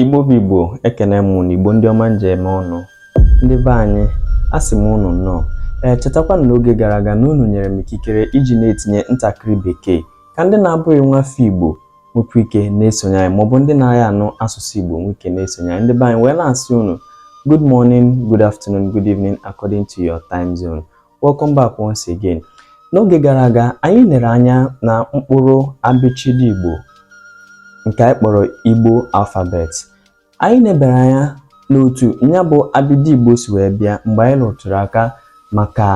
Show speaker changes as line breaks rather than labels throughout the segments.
Igbo bụ Igbo ekene m unu Igbo ndị ọma m ji eme ọnụ ndị be anyị a sị m unu nnọọ ee chetakwa na n'oge gara aga na unu nyere m ikikere iji na-etinye ntakịrị bekee ka ndị na-abụghị nwa afọ Igbo nwekwa ike na-esonye anyị maọbụ ndị na-aghị anụ asụsụ Igbo nwee ike na-esonye anyị ndị be anyị wee na-asị unu good morning good afternoon good evening according to your time zone Welcome back once again. N'oge gara aga anyị nere anya na mkpụrụ abịchịdị Igbo nke anyị kpọrọ Igbo alphabet. Anyị nebere anya n'otu ya bụ abịdị Igbo si wee bịa mgbe anyị rụtụrụ aka maka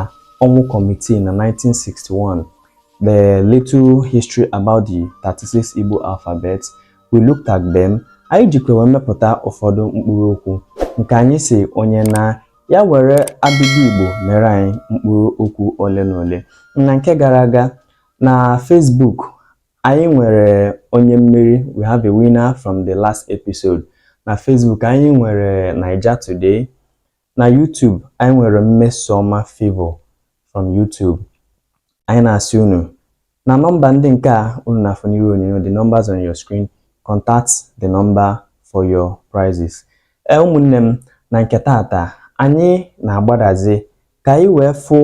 Ọnwụ Committee na 1961. The little history about the 36 Igbo alphabet, we looked at them. Anyị jikwa wee mepụta ụfọdụ mkpụrụ okwu nke anyị sị onye na Ya were abịdị Igbo mere anyị mkpụrụ okwu ole na ole. Na nke gara aga na Facebook, anyị nwere onye mmeri, we have a winner from the last episode. Na Facebook, anyị nwere Naija Today. Na YouTube, anyị nwere Mmesoma Favour from YouTube. Anyị na-asị unu na nọmba ndị nke a unu na-afụ n'iru onyonyo the numbers on your screen contact the number for your prizes ee ụmụnne m na nke taata anyị na-agbadazi ka anyị wee fụ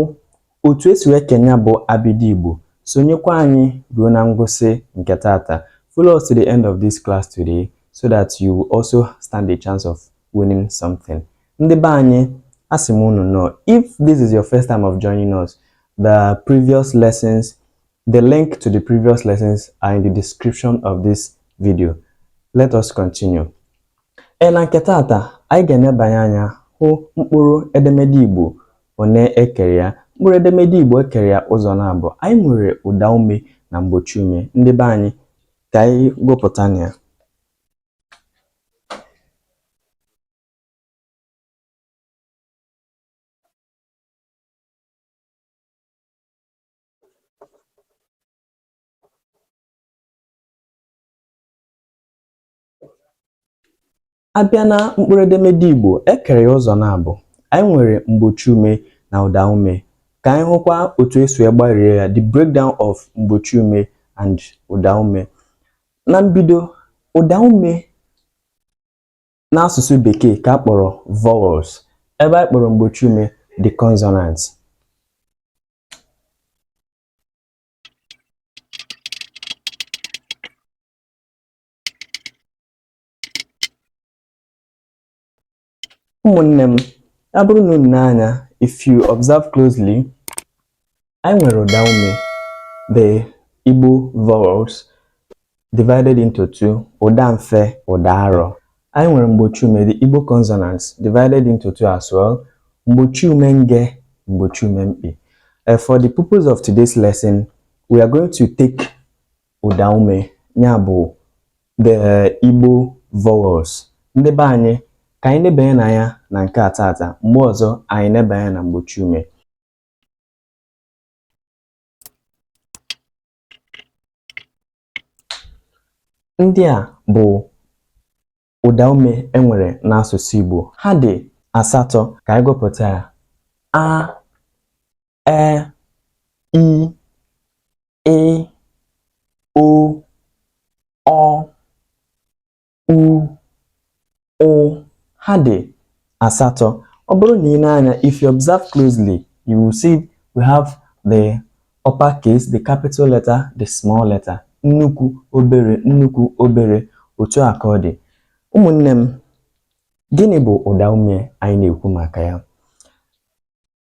otu esi wee kee nya bụ abịdị Igbo sonyekwa anyị ruo na ngwụsị nke taata follow us to the end of this class today so that you also stand a chance of winning something. Ndị be anyị, asị m unu nnọọ, if this is your first time of joining us, the previous lessons, the link to the previous lessons are in the description of this video. Let us continue. Ee, na nke taata, anyị ga-enebanye anya hụ mkpụrụ edemede Igbo one ekere ya. Mkpụrụ edemede Igbo ekere ya ụzọ naabọ. Anyị nwere ụda ume na mgbochi ume. Ndị be anyị, ka anyị gụpụtanụ ya. A bịa na mkpụrụedemede Igbo, e kere ya ụzọ naabọ. Anyị nwere mgbochi ume na ụda ume. Ka anyị hụkwa otu esi wee gbarie ya, the breakdown of mgbochi ume and ụda ume. Na mbido, ụda ume n'asụsụ Bekee ka a kpọrọ vowels, ebe anyị kpọrọ mgbochi ume the consonants. ụmụnne m ya bụrụ na unu nee anya if you observe closely anyị nwere ụda ume the Igbo vowels divided into two ụda mfe ụda arọ anyị nwere mgbochi ume the Igbo consonants divided into two as well mgbochi ume nge mgbochi ume mkpị eh, for the purpose of today's lesson we are going to take ụda ume ya bụ the Igbo vowels ndị be anyị ka anyị nebanye anya na nke a tata mgbe ọzọ anyị neba anya na mgbochi ume ndị a bụ ụdaume e nwere n'asụsụ Igbo ha dị asatọ ka anyị gụpụta ya a e i ị o ọ u ụ ha dị asatọ ọ bụrụ na i nee anya if you observe closely you will see we have the upper case the capital letter the small letter nnukwu obere nnukwu obere otu a ka ọ dị ụmụnne m gịnị bụ ụda ume anyị na-ekwu maka ya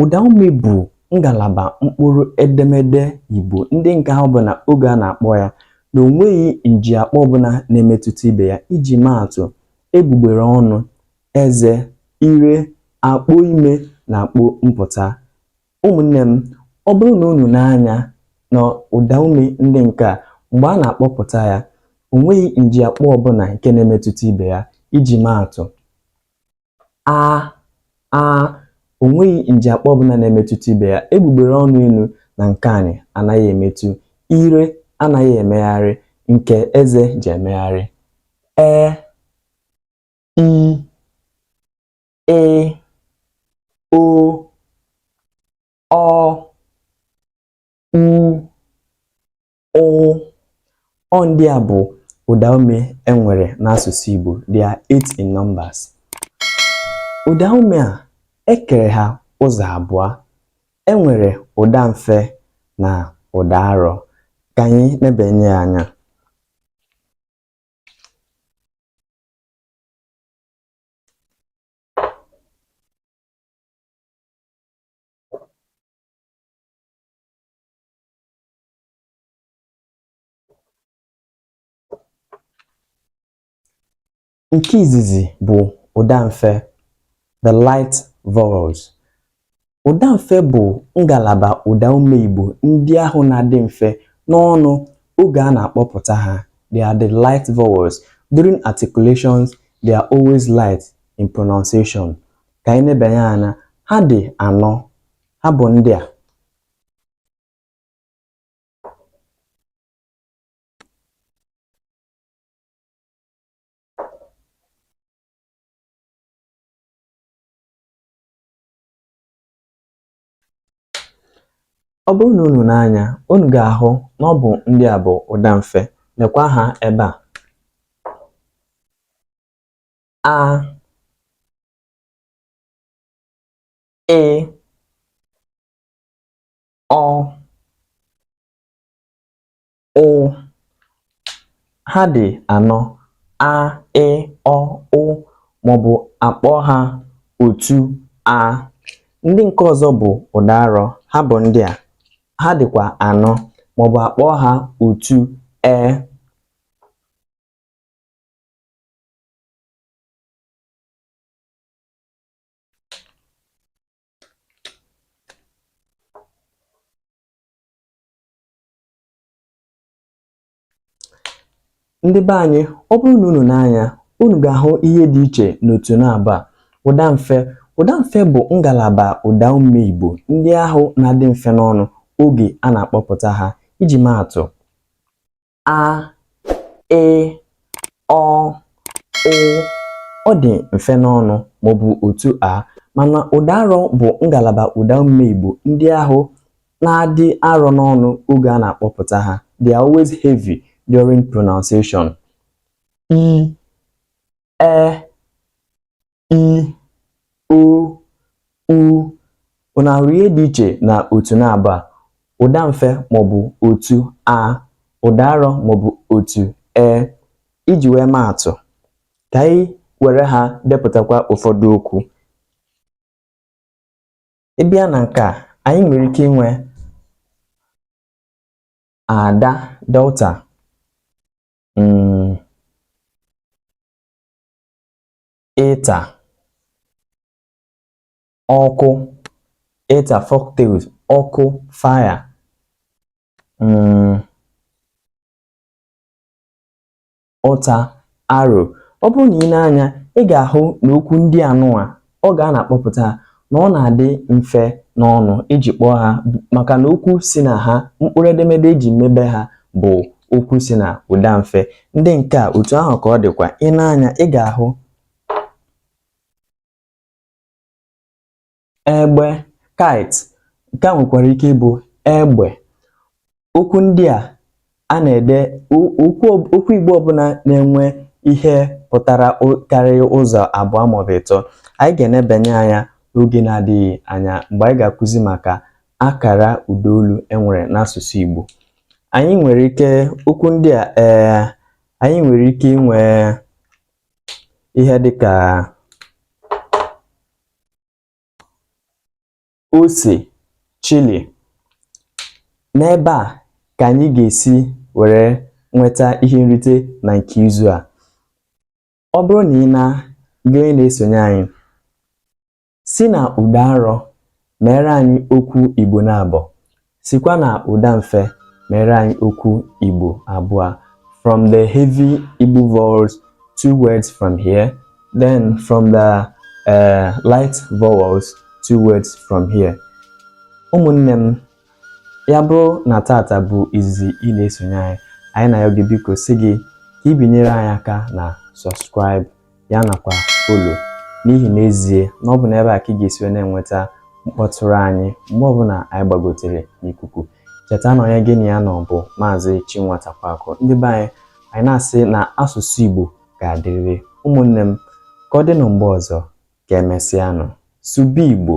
Ụdaume bụ ngalaba mkpụrụ edemede Igbo ndị nke ahụ bụ na oge a na-akpọ ya na o nweghị njiakpọ ọbụna na-emetụta ibe ya iji maa atụ egbugbere ọnụ, eze, ire, akpo ime na akpo mpụta. Ụmụnne m, ọ bụrụ na unu nee anya na ụdaume ndị nke a mgbe a na-akpọpụta ya, o nweghị njiakpọ ọbụna nke na-emetụta ibe ya iji maa atụ. a a o nweghị njiakpọ ọbụna na-emetụta ibe ya egbugbere ọnụ enu na nke anị anaghị emetụ ire anaghị emegharị nke eze ji emegharị e i ị o ọ u ụ ndị a bụ ụdaume e nwere n'asụsụ Igbo they are eight in numbers ụdaume a e kere ha ụzọ abụọ e nwere ụda mfe na ụda arọ ka anyị nebanye ya anya Nke izizi bụ ụdamfe the light vowels. Ụdamfe bụ ngalaba ụdaume Igbo ndị ahụ na-adị mfe n'ọnụ oge a na-akpọpụta ha. They are the light vowels. During articulations, they are always light in pronunciation. Ka anyị nebanye anya, ha dị anọ. Ha bụ ndị a. Ọ bụrụ na unu nee anya unu ga-ahụ na ọ bụ ndị a bụ ụda mfe. Nekwa ha ebe a. A Ị ọ ụ ha dị anọ a ị ọ ụ maọbụ a kpọọ ha otu a ndị nke ọzọ bụ ụda arọ ha bụ ndị a ha dịkwa anọ maọbụ a kpọọ ha otu e ndị be anyị ọ bụrụ na unu nee anya unu ga-ahụ ihe dị iche n'otu naabọ a ụda mfe ụda mfe bụ ngalaba ụda ume Igbo ndị ahụ na-adị mfe n'ọnụ oge a na-akpọpụta ha iji maa atụ a ị ọ ụ ọ dị mfe n'ọnụ maọbụ otu a mana ụda arọ bụ ngalaba ụda ume Igbo ndị ahụ na-adị arọ n'ọnụ oge a na-akpọpụta ha they are always heavy during pronunciation i e i o u unu ahụrụ ihe dị iche na otu naabọ a ụda mfe maọbụ otu a ụda arọ maọbụ otu e iji wee maa atụ ka anyị were ha depụtakwa ụfọdụ okwu ị bịa na nke a anyị nwere ike inwe ada daughter mm. ịta ọkụ ịta folktales ọkụ fire mm, ụta arrow ọ bụrụ na i nee anya ị ga-ahụ na okwu ndị anụwa oge a na-akpọpụta na ọ na-adị mfe n'ọnụ iji kpọọ ha maka na okwu si na ha mkpụrụ edemede eji mebe ha bụ okwu si na ụda mfe ndị nke a otu ahụ ka ọ dịkwa i nee anya ị ga-ahụ egbe kite nke a nwekwara ike ịbụ egbe okwu ndị a a na-ede okwu Igbo ọbụla na-enwe ihe pụtara karịa ụzọ abụọ maọbụ ịtọ anyị ga-enebanye anya n'oge na-adịghị anya mgbe anyị ga-akụzi maka akara ụdaolu enwere n'asụsụ Igbo anyị nwere ike okwu ndị a ee eh, anyị nwere ike inwe ihe dịka ose chili n'ebe a ka anyị ga-esi were nweta ihe nrite na nke izu a ọ bụrụ na ị na gị onye na-esonye anyị si na ụda arọ meere anyị okwu Igbo naabọ Sikwa na ụda mfe mere anyị okwu Igbo abụọ from the heavy Igbo vowels two words from here then from the uh, light vowels two words from here ụmụnne m ya bụrụ na tata bụ izizi ị na-esonye anyị anyị na-ayọ gị biko sị gị ka i binyere anyị aka na subscribe ya nakwa all n'ihi n'ezie na ọ bụ n'ebe a ka ị ga-esi wee na-enweta mkpọtụrụ anyị mgbe ọbụla anyị gbagotere n'ikuku cheta na onye gị na ya nọ bụ maazị Chinwatakwaakụ ndị be anyị anyị na-asị na asụsụ Igbo ga-adịrịrị ụmụnne m ka ọ dị na mgbe ọzọ ka emesịanụ sụba Igbo